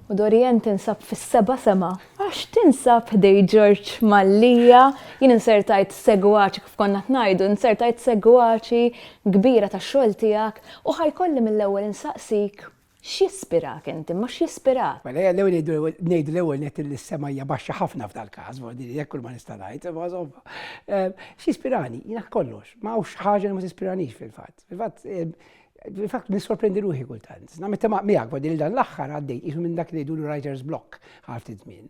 U Dorian tinsab fis-seba sema, għax tinsab ħdej Ġorġ Mallija, jien insertajt segwaċi kif konna tnajdu, insertajt segwaċi kbira ta' xogħol tiegħek u ħajkolli mill-ewwel insaqsik X'jispirak inti, imma x'jispirak? Mela ejja l-ewwel ngħidu ngħidu l-ewwel nett li s-sema hija baxxa ħafna f'dal-każ, imma din hekk kull ma nista' ngħid, imma insomma. X'jispirani? Jiena kollox, ma hawnx ħaġa li ma tispiranix fil-fatt. Fil-fatt, fil-fatt nissorprendi ruħi kultant. Nammetti miegħek, vadi li dan l-aħħar għaddejt qisu minn dak li ngħidulu writer's block għal ftit żmien.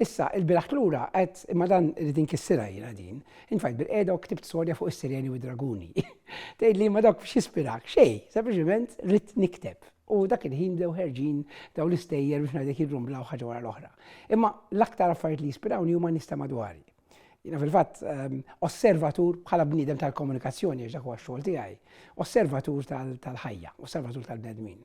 Issa, ilbieraħ lura għedt, imma dan irrid inkissirha jiena din. Int fajt bilqiegħda u ktibt storja fuq is-sireni u d-draguni. Tgħidli imma dawk x'jispirak? Xejn, sempliċement ridt nikteb. U dak il-ħin bdew ħerġin dawn l-istejjer biex ngħidlek jirrumblaw ħaġa wara l-oħra. Imma l-aktar affarijiet li jispirawni huma n-nies ta' madwari. Jina fil-fatt ehm, osservatur bħala bniedem tal-komunikazzjoni għax dak huwa xogħol tiegħi, osservatur tal-ħajja, osservatur tal-bnedmin.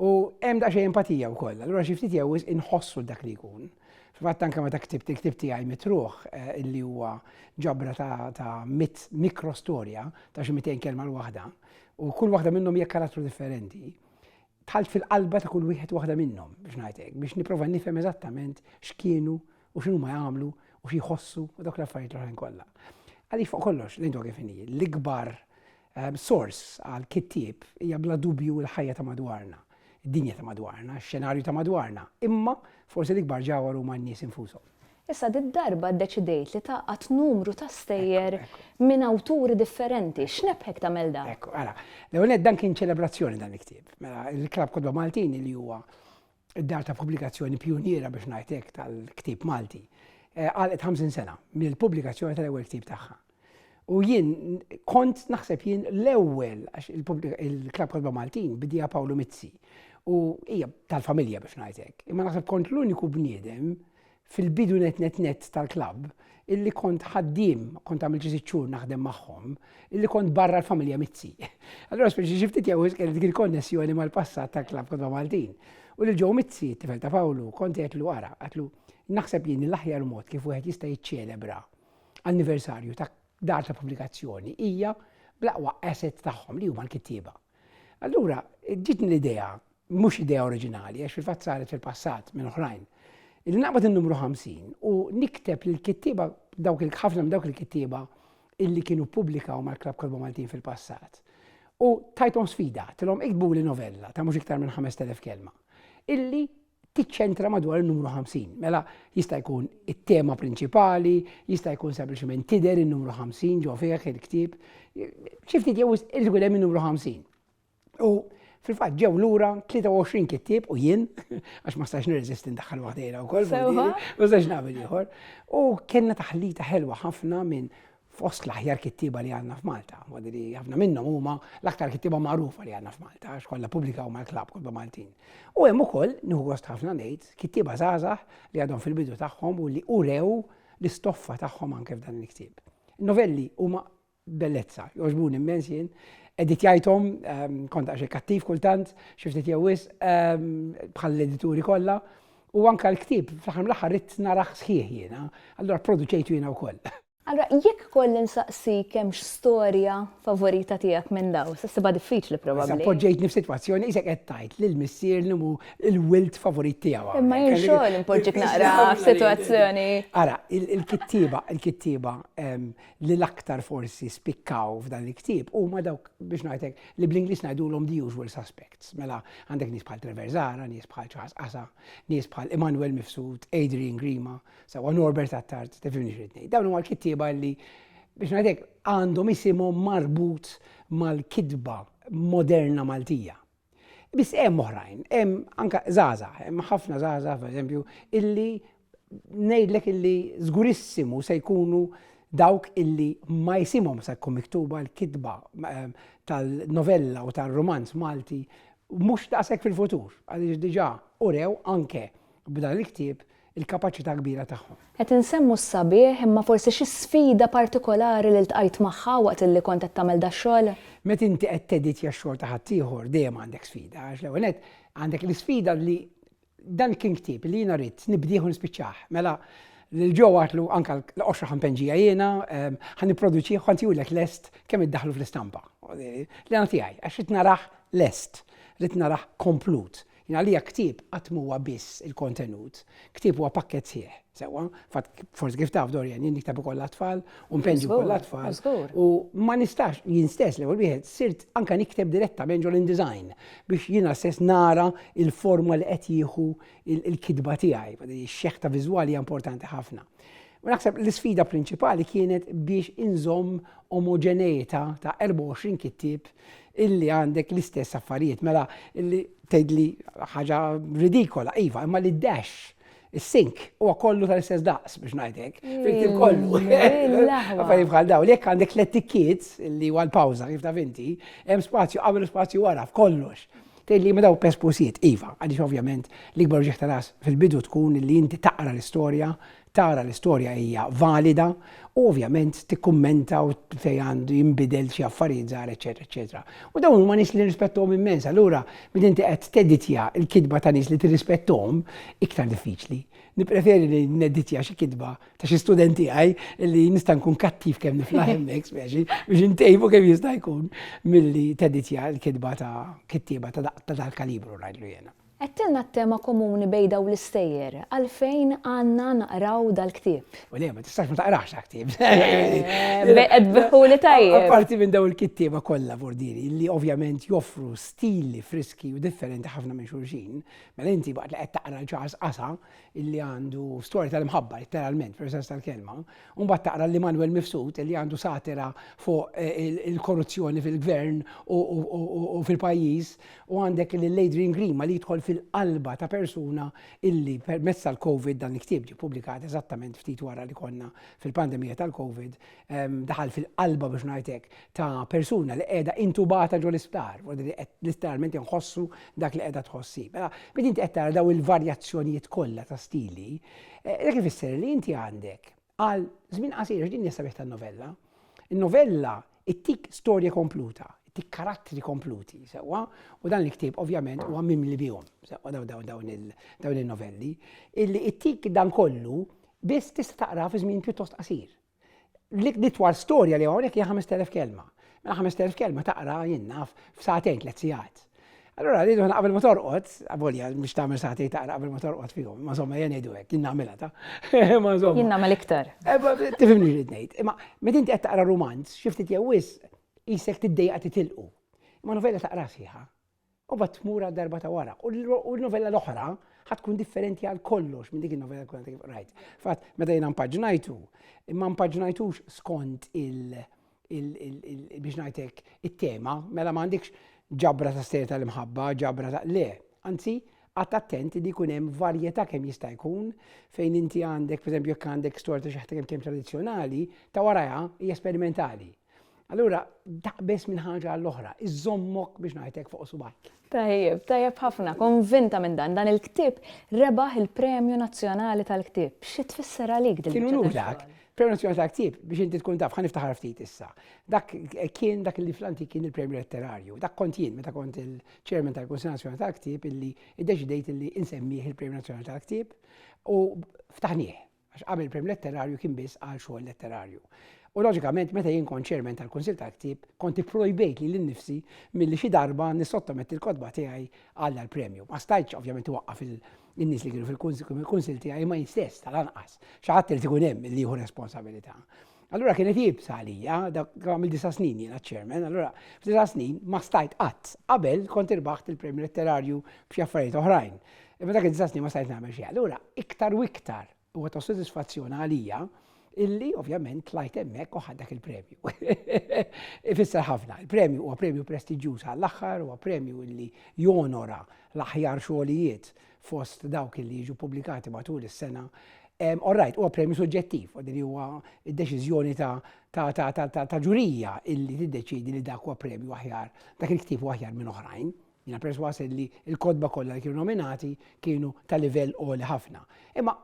U hemm daqsxejn empatija wkoll, allura xi ftit jew inħossu dak li jkun. Fil-fatt anke meta ktibt il-ktib tiegħi mitruħ eh, illi huwa ġabra ta' mit mikrostorja ta' xi 200 kelma l-waħda u kull waħda minnhom hija karattru differenti tħalt fil-qalba ta' kull wieħed waħda minnhom biex ngħidlek biex nipprova nifhem eżattament x'kienu u x'inhuma jagħmlu u xi jħossu u dawk l-affarijiet l-oħrajn kollha. Għaliex fuq kollox l-intwa kif inhi, l-ikbar ehm, sors għal kittieb hija bla dubju l-ħajja ta' madwarna, id-dinja ta' madwarna, x-xenarju ta' madwarna, imma forsi l-ikbar ġawar huma n-nies infushom. Issa dit darba ddeċidejt li taqgħad numru ta' stejjer minn awturi differenti. X'nebħek tagħmel dan? Ekku, għala. L-ewwel dan kien ċelebrazzjoni dan il-ktieb. Mela, il-Klab Kodba Maltin li huwa id-dar ta' pubblikazzjoni pjuniera biex ngħid hekk tal-ktieb Malti, eh, għalqet 50 sena mill-pubblikazzjoni tal-ewwel ktieb tagħha. U jien kont naħseb jien l-ewwel għax il-Klab Kodba Maltin bidija Pawlu Mizzi u hija tal-familja biex ngħid hekk. Imma naħseb kont l-uniku bniedem Fil-bidu nett nett nett tal-klabb, illi kont ħaddiem, kont għamilt xi sitt xhur naħdem magħhom, illi kont barra l-familja Mizzi. Allura speċi xi ftit jewwies kelli dik il-konnessjoni mal-passat tal-klabb Kotba Maltin. U lil Joe Mizzi, t-tifel ta' Pawlu, kont għedtlu ara, għedtlu, naħseb jien l-aħjar mod kif wieħed jista' jiċċelebra anniversarju ta' dar ta' pubblikazzjoni hija bl-aqwa asset tagħhom li huma l-kittieba. Allura ġitni l-idea mhux idea oriġinali għax fil-fatt saret fil-passat minn oħrajn. Li naqbad in-numru 50 u nikteb lil kittieba dawk il-ħafna minn dawk il-kittieba illi kienu pubblikaw mal-Klab Kolba Maltin fil-passat. U tajtom sfida, tilhom iktbu li novella ta' mhux iktar minn 5000 kelma illi tiċċentra madwar il-numru 50. Mela jista' jkun it-tema prinċipali, jista' jkun sempliċement tidher in-numru 50 ġo fih il-ktieb. Xi ftit jew il-gulem in-numru 50. U fil-fatt ġew lura 23 kittieb u jien, għax ma stax nirreżisti ndaħħal waħdejna wkoll, u żewġ nagħmel ieħor. U kellna taħlita ħelwa ħafna minn fost l-aħjar kittiba li għandna f'Malta. Madri ħafna minnhom huma l-aktar kittiba magħrufa li għandna f'Malta, għax kollha pubblika u mal-klab kollha Maltin. U hemm ukoll nieħu gost ħafna ngħid kittiba żgħażagħ li għadhom fil-bidu tagħhom u li urew l-istoffa tagħhom anke f'dan il-ktieb. Novelli huma bellezza. Jogħġbuni immens jien. Editjajthom, ehm, kont għaxi kattiv kultant, xi ftit jew wisq, ehm, bħall-edituri kollha. U anka l-ktib, fl-aħħar mill-aħħar rid naraħ sħiħ jiena, allura produċejtu jiena wkoll. Allura jekk kolli nsaqsik hemm storja favorita tiegħek minn daw, se ssibha diffiċli probabbli. Poġġejtni f'sitwazzjoni isek qed tgħid lil missier li hu l-wild favorit tiegħu. Imma jien xogħol impoġġik naqra f'sitwazzjoni. Ara, il-kittieba, il-kittieba ehm, li l-aktar forsi spikkaw f'dan il-ktieb huma dawk biex ngħidlek li bl-Ingliż ngħidulhom the usual suspects. Mela għandek nies bħal Trevor Zara, nies bħal Charles Qasa, nies bħal Emmanuel Mifsud, Adrian Grima, sewa Norbert Attard, tefimni xrid ngħid. Dawn huma l-kittieba li biex ngħidlek għandhom isimhom marbut mal-kitba moderna Maltija. Biss hemm oħrajn, hemm anke żgħażagħ, hemm ħafna żgħażagħ pereżempju illi ngħidlek illi żgurissimu se jkunu dawk illi ma jisimhom se tkun miktuba l-kitba ehm, tal-novella u tal-romanz Malti mhux daqshekk fil-futur, għaliex diġà urew anke b'dan il-ktieb il-kapaċità kbira tagħhom. Qed insemmu s-sabiħ, imma forsi xi sfida partikolari li ltqajt magħha waqt illi kont qed tagħmel dax-xogħol? Meta inti qed teditja x-xogħol ta' ħaddieħor dejjem għandek sfida għax l-ewwel nett għandek l-isfida li dan kien ktieb li jiena ridt nibdieh u nispiċċah. Mela lil Joe għadtlu anke l-qoxra ħampenġija jiena ħa nipproduċih u ħa ntihulek lest kemm iddaħħlu fl-istampa. L-għana tiegħi għax ridt narah lest, ridt narah komplut. Jien għalija ktieb qatt m'huwa biss il-kontenut. Ktieb huwa pakkett sħiħ, sewwa. Fatt, forsi kif taf Dorian, jien nikteb ukoll għat-tfal u npenġi wkoll għat-tfal. Żgur. U ma nistax, jien stess l-ewwel wieħed, sirt anke nikteb direttament ġol InDesign biex jiena stess nara l-forma li qed jieħu l-kitba tiegħi. Ix-xeħta viżwali hija importanti ħafna. U naħseb l-isfida prinċipali kienet biex inżomm omoġeneità ta' 24 kittib illi għandek l-istess affarijiet, mela illi tgħidli ħaġa ridikola, iva, imma li dash is-sink huwa kollu tal-istess daqs biex ngħidlek. Fil-ktieb kollu. Affarijiet bħal dawn, jekk għandek l-etikkiet li huwa l-pawża kif taf inti, hemm spazju qabel spazju wara f'kollox. Tgħid li ma dawn pespusijiet, iva, għaliex ovvjament l-ikbar uġigħ ta' ras fil-bidu tkun li inti taqra l-istorja, tara l-istorja hija valida u ovvjament tikkummenta u fejn għandu jinbidel xi affarijiet żgħar eċetera eċetera. U dawn huma nies li nirrispettuhom immens, allura meta inti qed teditja l-kitba ta' nies li tirrispettuhom iktar diffiċli. Nippreferi li nedditja xi kitba ta' xi student tiegħi li nista' nkun kattiv kemm niflaħ hemmhekk speċi biex intejbu kemm jista' jkun milli teditja l-kitba ta' kittieba ta' dal-kalibru ngħidlu jiena. Għedtilna t-tema komuni bejn dawn l-istejjer, għalfejn għandna naqraw dal-ktieb? U le, ma tistax ma taqrax dal-ktieb. Qed biħuli tajjeb. Apparti minn dawn il-kittieba kollha Vordiri, li ovvjament joffru stili friski u differenti ħafna minn xulxin, mela inti waqt li qed taqra l-Charles Qasa, illi għandu storja tal-imħabba, letteralment, per sens tal-kelma, un bat taqra li Manuel Mifsud illi għandu satira fuq eh, il-korruzzjoni fil-gvern u fil-pajis, u għandek li Adrian Grima li jidħol fil-qalba ta' persuna illi permezz tal-Covid dan il-ktib ġi publikat eżattament ftit wara li konna fil-pandemija tal-Covid, daħal fil-qalba biex ngħid hekk ta' persuna li qiegħda intubata ġol isptar, u li qed literalment inħossu dak li qiegħda tħossi. Mela, meta inti qed tara daw il-varjazzjonijiet kollha ta' stili, eh, dak ifisser li inti għandek għal żmien qasir din hija sabiħ tan-novella. In-novella ittik storja kompluta, ittik karattri kompluti, sewwa, u dan il-ktieb ovvjament huwa mimli bihom, sewwa dawn il-novelli, illi ittik dan kollu biss tista' taqra fi żmien pjuttost qasir. L-itwal storja li hawnhekk hija 5000 kelma. Mela 5000 kelma taqra jinnaf f'satejn tliet sigħat. Allora rridu ħna qabel ma torqod, avolja biex tagħmel sati taqra qabel ma torqod fihom, ma somma jien ngħidu hekk, jien nagħmilha ta. Ma somma. Jien nagħmel iktar. Eh, tifhimni li ngħid. Imma meta inti qed taqra rumanz, xi ftit jew wis isek tiddejja titilqu. Imma novella taqra sieħa. U bat tmur għal darba ta' wara. U l-novella l-oħra ħatkun differenti għal kollox minn dik il-novella kuna kif rajt. Fat, meta jena mpaġnajtu, ma mpaġnajtux skont il- biex najtek it-tema, mela ma għandikx ġabra ta' stejta l-imħabba, ġabra ta' le. Anzi, għat attenti li jkun hemm varjetà kemm jista' jkun fejn inti għandek, per jekk għandek storja ta' xi ħadd kemm tradizzjonali, ta' warajha hija sperimentali. Allura, taqbeż minn ħaġa għall-oħra, iżommok biex ngħidlek fuq subaj. Tajjeb, tajjeb ħafna, konvinta minn dan. Dan il-ktib rebaħ il-Premju Nazzjonali tal-Ktib. Xi tfisser għalik din Kienu nurak, Premju Nazzjonali tal-Ktib biex inti tkun taf, ħan niftaħar ftit issa. Dak kien dak li flanti kien il-Premju Letterarju. Dak kont jien meta kont il-Chairman tal-Kunsil Nazzjonali tal-Ktib illi iddeċidejt illi insemmih il-Premju Nazzjonali tal-Ktib u ftaħnieh. għax qabel il-Premju Letterarju kien biss għal xogħol letterarju. U loġikament meta jien kont chairman tal-Kunsill tal-Ktieb, kont ipprojbejt li l-nifsi milli xi darba nissottometti l-kotba tiegħi għal dal-premju. Ma stajtx ovvjament waqqaf il-nies li kienu fil-kunsill tiegħi ma jistess tal-anqas. Xi ħadd irid ikun hemm li jieħu responsabilità. Allura kienet jibsa għalija, dak għamil disa snin jiena ċermen, allura f'disa snin ma stajt qatt. Qabel kont irbaħt il-premju letterarju b'xi affarijiet oħrajn. Imma dak id-disa snin ma stajt nagħmel xi. Allura iktar u iktar huwa ta' sodisfazzjon għalija illi ovvjament tlajt hemmhekk u dak il-premju. Ifisser ħafna, il-premju huwa premju prestiġjuż għall-aħħar, huwa premju illi jonora l-aħjar xogħlijiet fost dawk li jiġu pubblikati matul is-sena. All ehm, right, huwa premju suġġettiv, li huwa d-deċiżjoni ta' ġurija illi tiddeċidi li dak huwa premju aħjar, dak il-ktieb huwa aħjar minn oħrajn. Jina perswas li l-kodba kollha li kienu nominati kienu ta' livell għoli ħafna. Imma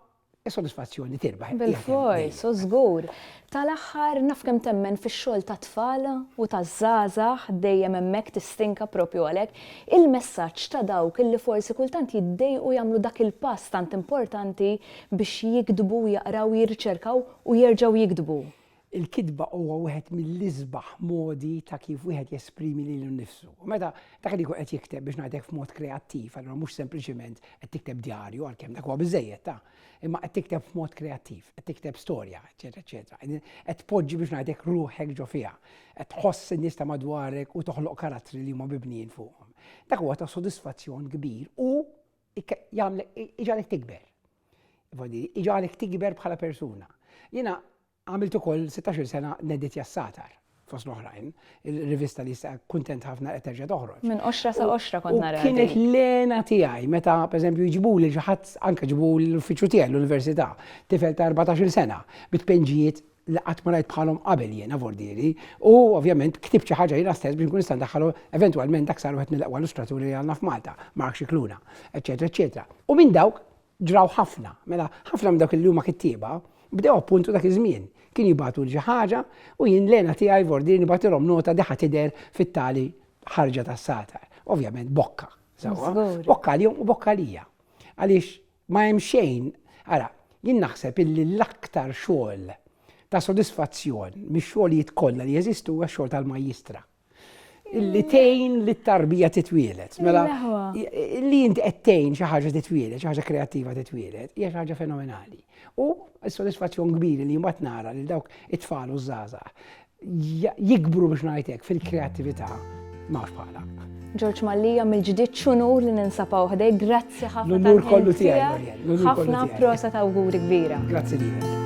Is-sodisfazzjoni tirbaħ. Bilfors, u żgur. Tal-aħħar, naf kemm temmen fix-xogħol tat-tfal u taż-żgħażagħ, dejjem hemmhekk tistinka proprju għalhekk, il-messaġġ ta' dawk illi forsi kultant jiddejqu jagħmlu dak il-pass tant importanti biex jiktbu u jaqraw u jirriċerkaw u jerġgħu jiktbu. Il-kitba huwa wieħed mill-isbaħ modi ta' kif wieħed jesprimi lilu nnifsu. U meta dak li jkun qed jikteb biex ngħidlek f'mod kreattiv, allura mhux sempliċement qed tikteb djarju għalkemm dak huwa biżejjed ta', imma qed tikteb f'mod kreattiv, qed tikteb storja, eċetera, eċetera. Qed tpoġġi biex ngħidlek ruħek ġo fiha, qed tħoss in-nies ta' madwarek u toħloq karattri li huma mibnijin fuqhom. Dak huwa ta' sodisfazzjon kbir u jagħmlek iġalek tikber. Iġalek tikber bħala persuna. Jiena Għamilt ukoll sittax-il sena Neditja s-Satar, fost l-oħrajn, il-rivista li issa kuntent ħafna qed terġa' toħroġ. Minn qoxra sa qoxra kont naraha din. U kienet l-għena tiegħi meta, pereżempju, jġibuli lil xi ħadd, anke ġibuli l-uffiċċju tiegħi l-università, tifel ta' erbatax-il sena, bi tpinġijiet li qatt ma rajt bħalhom qabel jiena f'ordiri, u ovvjament ktibt xi ħaġa jiena stess biex nkun nista' ndaħħalhom eventwalment dak sar wieħed mill-aqwa illustraturi li għandna f'Malta, Mark Scicluna, eċċetera, eċċetera. U minn dawk Ġraw ħafna, mela ħafna minn dawk li huma kittieba bdew appuntu dak iż-żmien. Kien jibgħatu l ħaġa u jien lena tiegħi vordir nibgħatilhom nota diħa tidher fit-tali ħarġa tas-satar. Ovvjament bokka. Bokka għalihom u bokka lija. Għaliex ma hemm xejn, ara, jien naħseb illi l-aktar xogħol ta' sodisfazzjon mix-xogħlijiet kollha li jeżistu huwa x-xogħol tal-majjistra. li tejn li t-tarbija titwielet. Mela, li inti qed tejn xi ħaġa titwielet, xi ħaġa kreattiva titwielet, hija xi ħaġa fenomenali. U s-sodisfazzjon kbir li mbagħad nara li dawk it-tfal u żgħażagħ jikbru biex ngħidlek fil-kreattività m'hawnx bħala. Ġorġ Mallija mill-ġdid xunur li ninsapaw ħdej, grazzi ħafna. L-unur kollu tiegħi. Ħafna prosa ta' awguri kbira. Grazzi lilek.